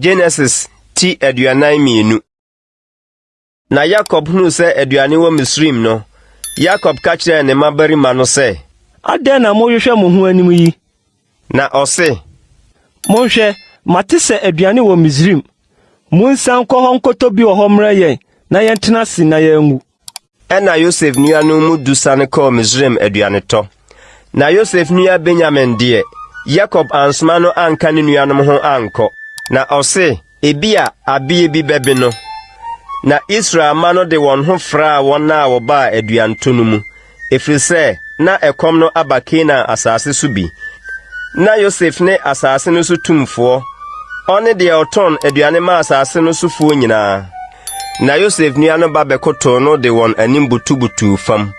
Genesis ti aduanan mmienu. Na Yakob hunu sɛ aduane wɔ Misraim no, Yakob ka kyerɛɛ ne mmabarima no sɛ, Adɛn na mohwehwɛ mo ho anim yi? Na ɔse, Monhwɛ, mate sɛ aduane wɔ Misraim. Monsan nkɔ hɔ nkɔtɔ bi wɔ hɔ mmrɛ yɛn na yɛntena ase na yɛanwu. Ɛnna Yosef nuanom mu du sane kɔɔ Misraim aduanetɔ. Na Yosef nua Benyamin deɛ, Yakob ansoma no anka ne nuanom ho ankɔ. Na ɔse, ebia abeɛ bi bɛbe no. Na Israel mma no de wɔn ho fraa wɔn a wɔbaa aduantɔ no mu, ɛfiri sɛ na ɛkɔm no aba Kanaan asase so bi. Na Yosef ne asase no so tumfoɔ, ɔne deɛ ɔtɔn aduane ma asase no sofoɔ nyinaa. Na Yosef nua no ba bɛkotow no de wɔn anim butubutuu fam.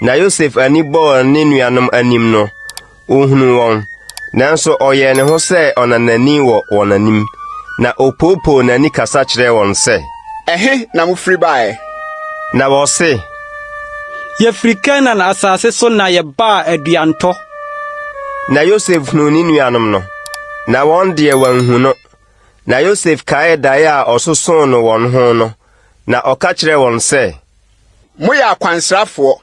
Na Yosef ani bɔɔ ne nuanom anim no, ohunuu wɔn, nanso ɔyɛɛ ne ho sɛ ɔnanani wɔ wɔn anim, na opoopoo n'ani kasa kyerɛɛ wɔn sɛ, Ɛhe na mufiri baeɛ? Na wɔse, Yɛfiri Kanaan asase so na yɛbaa aduantɔ. Na Yosef hunuu ne nuanom no, na wɔn deɛ wɔanhu no. Na Yosef kaee dae a ɔsosoo no wɔn ho no, na ɔka kyerɛɛ wɔn sɛ. Moyɛ akwansrafoɔ,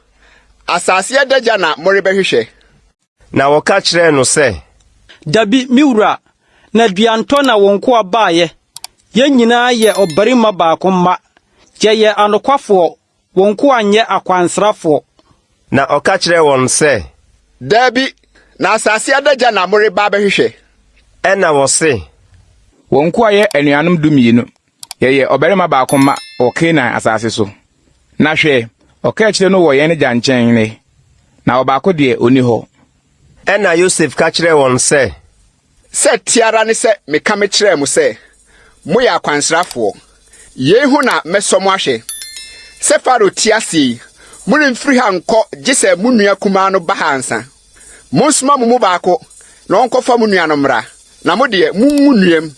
asase adagya na morebɛhwehwɛ? Na wɔka kyerɛɛ no sɛ. Dabi, me wura, na dua ntɔ na wo nkoa baeɛ, yɛn nyinaa yɛ ɔbarima baako mma, yɛyɛ anokwafoɔ, Wo nkoa nyɛ akwansrafoɔ. Na ɔka kyerɛɛ wɔn sɛ. Daabi, na asase adagya na moreba abɛhwehwɛ. Ɛnna wɔse. Wo nkoa yɛ anuanom dumienu. Yɛyɛ ɔbarima baako mma wɔ Kanaan asase so. Na hwɛ, ɔkaakyire no wɔ yɛn agya nkyɛn nnɛ, na ɔbaako deɛ, ɔnni hɔ. Ɛnna Yosef ka kyerɛɛ wɔn sɛ. Sɛ ɛte ara ne sɛ meka mekyerɛɛ mo sɛ, 'Moyɛ akwansrafoɔ. Yei ho na mɛsɔ mo ahwɛ. Sɛ Farao te ase yi, moremfiri ha nkɔ gye sɛ mo nua kumaa no ba ha ansa. Monsoma mo mu baako na ɔnkɔfa mo nua no mmra, na mo deɛ, monwu nnuam.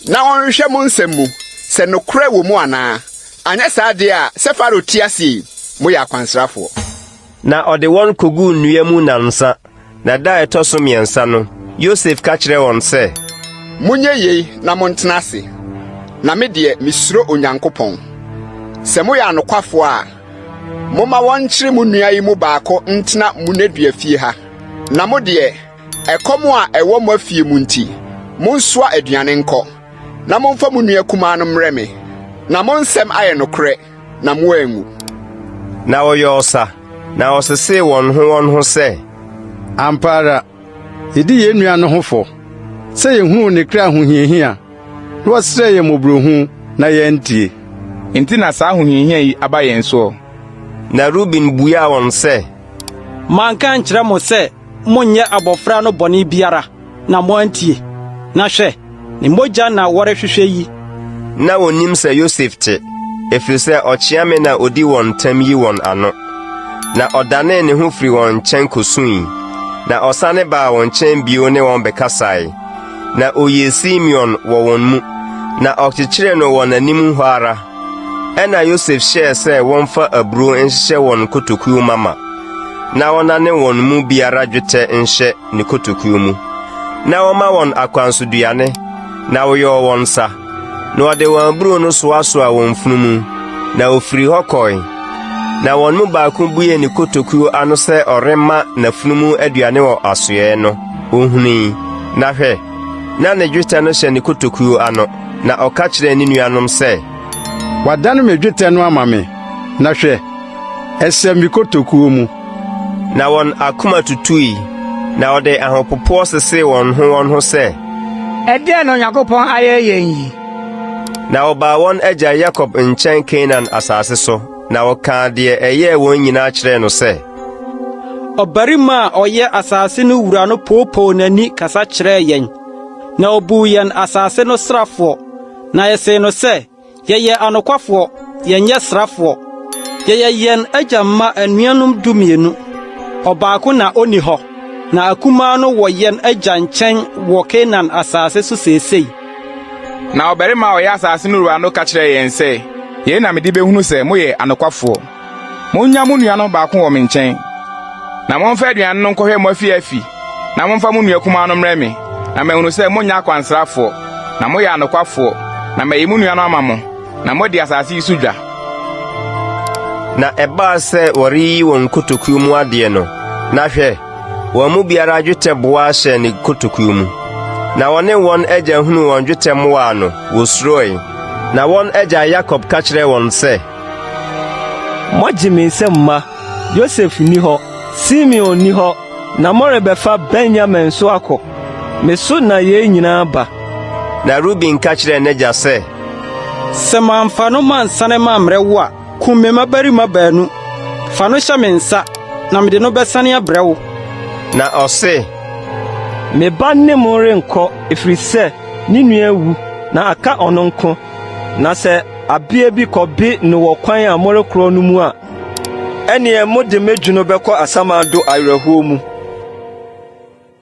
na wɔnhwehwɛ mo nsɛm mu sɛ nokorɛ wɔ mu anaa, anyɛ saa deɛ a, sɛ Farao te ase yi, moyɛ akwansrafoɔ. Na ɔde wɔn kɔguu nnua mu nnansa, na da a ɛtɔ so mmiɛnsa no, Yosef ka kyerɛɛ wɔn sɛ. Monyɛ yei na montena ase, na me deɛ, mesuro Onyankopɔn. Sɛ moyɛ anokwafoɔ a, momma wɔnkyere mo nua yi mu baako ntena Munedua fie ha, na mo deɛ, Ɛkɔm a ɛwɔ mo afie mu nti, monsoa aduane nkɔ, na momfa mo nua kumaa no mmrɛ me, na mo nsɛm ayɛ nokorɛ, na moanwu. Na wɔyɔɔ sa, na wɔsesee wɔn ho wɔn ho sɛ. Ampa ara, yedi yɛn nua no ho fɔ, sɛ yehuu ne kra ahohiahia, na ɔsrɛɛ yɛn mmɔborɔhunu, na yɛantie. Enti na saa ahohiahia yi aba yɛn soɔ. Na Ruben buaa wɔn sɛ. Manka ankyerɛ mo sɛ. Monnyɛ abɔfra no bɔne biara, na moantie. Na hwɛ! Ne mogya na wɔrehwehwɛ yi. Ná wonnim sɛ Yosef te, ɛfiri sɛ ɔkyea me na ɔdi wɔn ntam yi wɔn ano. Na ɔdanee ne ho firii wɔn nkyɛn kɔsuui, na ɔsane baa wɔn nkyɛn bio ne wɔn bɛkasae. Na ɔyii Simeon wɔ wɔn mu, na ɔkyekyeree no wɔ n'anim hɔ ara. Ɛnna Yosef hyɛɛ sɛ wɔmfa aburoo nhyehyɛ wɔn nkotokuo mama, na wɔnna ne wɔn mu biara dwetɛ nhyɛ ne kotokuo mu, na wɔma wɔn akwansoduane, na wɔyɔɔ wɔn nsa, na wɔde wɔn aburo no soasoa wɔn mfunu mu, na wɔfiri hɔ kɔe. Na wɔn mu baako buee ne kotokuo ano sɛ ɔrema n'afunumu aduane wɔ asoɛɛ no, ohui, na hwɛ, na ne dwetɛ no hyɛ ne kotokuo ano, na ɔka kyerɛɛ ne nuanom sɛ, Wadane me dwetɛ no ama me, na hwɛ, Ɛhyɛ me kotokuo mu. Na wɔn akoma tutui, na wɔde ahopopoɔ sesee wɔn ho wɔn ho sɛ. Ɛdeɛn na Onyankopɔn ayɛ yɛn yi? Na wɔbaa wɔn agya Yakob nkyɛn Kanaan asase so, na wɔkaa deɛ ɛyɛɛ wɔn nyinaa kyerɛɛ no sɛ. Ɔbarima a ɔyɛ asase no wura no poopoo n'ani kasa kyerɛɛ yɛn, na ɔbuu yɛn asase no srafoɔ, na yɛsee no sɛ. Yɛyɛ anokwafoɔ, yɛnyɛ srafoɔ. Yɛyɛ yɛn agya mma anuanom dumienu. Ɔbaako na ɔnni hɔ, na akumaa no wɔ yɛn agya nkyɛn wɔ Kanaan asase so seesei. Na ɔbarima a ɔyɛ asase no wura no ka kyerɛɛ yɛn sɛ, Yei na mede bɛhunu sɛ moyɛ anokwafoɔ. Monnya mo nua no baako wɔ me nkyɛn, na momfa aduane no nkɔhwɛ mo afi afi, na momfa mo nua kumaa no mmrɛ me, na mahunu sɛ monyɛ akwansrafoɔ, na moyɛ anokwafoɔ, na mayi mo nua no ama mo, na moadi asase yi so dwa. Na ɛbaa sɛ wɔreyi wɔn nkotokuo mu adeɛ no, na hwɛ, wɔn mu biara dwetɛ boa hyɛɛ ne kotokuo mu. Na wɔne wɔn agya hunuu wɔn dwetɛ mmoaa no, wɔsuroe. Na wɔn agya Yakob ka kyerɛɛ wɔn sɛ, Moagye me nsam mma. Yosef nni hɔ, Simeon nni hɔ, na morebɛfa Benyamin nso akɔ. Me so na yei nyinaa ba. Na Ruben ka kyerɛɛ n'agya sɛ. Sɛ mamfa no mansane mammrɛ wo a, kum me mmabarima baanu. Fa no hyɛ me nsa, na mede no bɛsane abrɛ wo. Na ɔse. Me ba ne mo renkɔ, ɛfiri sɛ ne nua awu, na aka ɔno nko. Na sɛ abea bi kɔbe no wɔ kwan a morekorɔ no mu a, ɛneɛ mode m'adwino bɛkɔ asamando awerɛhoɔ mu.